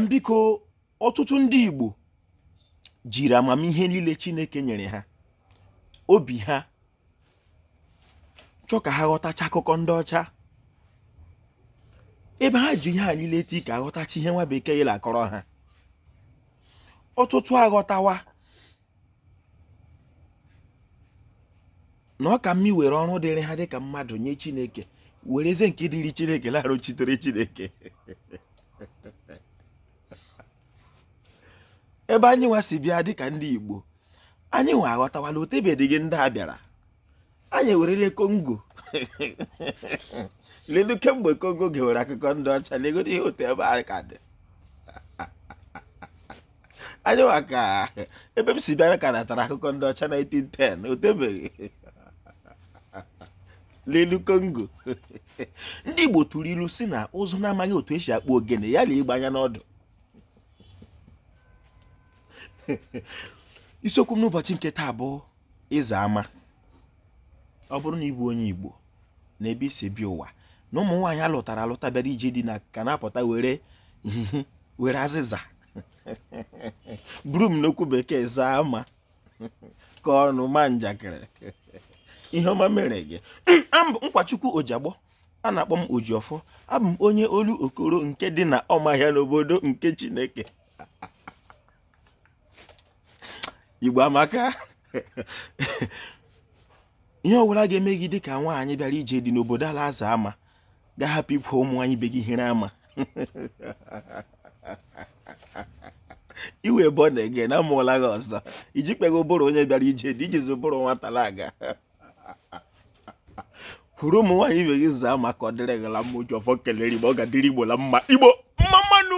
biko ọtụtụ ndị Igbo jiri amamihe niile Chineke nyere ha obi ha chọọ ka ha ghọtacha akụkọ ndị ọcha ebe ha ji ihe a niile tii ka a ghọtacha ihe nwa bekee ye la-akọrọ ha ọtụtụ aghọtawa na ọ ka mma e were ọrụ dịrị ha dịka mmadụ nye chineke werezie nke dịrị chineke na-arụchitere chineke ebe anyị nwa si bịa dịka ndị igbo anyị nwa aghọtawala o tebedịghị ndị a bịara anyị ewerele Congo ledu kemgbe Congo gewere akụkọ ndị ọcha legodo ihe otu ebe anyị ka dị anyị maka ebe m si bịara ka natara akụkọ ndị ọcha 1910 o tebeghị n'elu Congo ndị igbo tụrụ ilu sị na ụzụ na-amaghị otu e si akpụ ogene ya lee egbe anya n'ọdụ isiokwu m n'ụbọchị nke taa bụ Ịza ama ọ bụrụ na ị bụ onye Igbo na ebe i si bịa ụwa na ụmụ nwaanyị a lụtara alụta bịara ije di na ka na-apụta were were azịza broom n'okwu bekee zaa ama kọọ ọnụ maa njakịrị ihe ọma mere gị Nkwachukwu Ojiagbọ a na-akpọ m Oji Ọfọ abụ m onye Olokoro nke dị na Ọmahịa n'obodo nke chineke igbo amaka ihe ọbụla ga-eme gị dịka nwaanyị bịara ije di n'obodo a la-aza ama ga-ahapụ ikwu ụmụ nwaanyị ibe gị hịrị ama iwe bụ na ege na amụọla gị ọzọ i jikwa bụrụ onye bịara ije di i jizi bụrụ nwata na-aga kwuru ụmụ nwaanyị ibe gị zaa ama ka ọ dịrị gị la mma oji ọfọ kelere igbo ọ ga-adịrị igbo la mma igbo mma mma nụ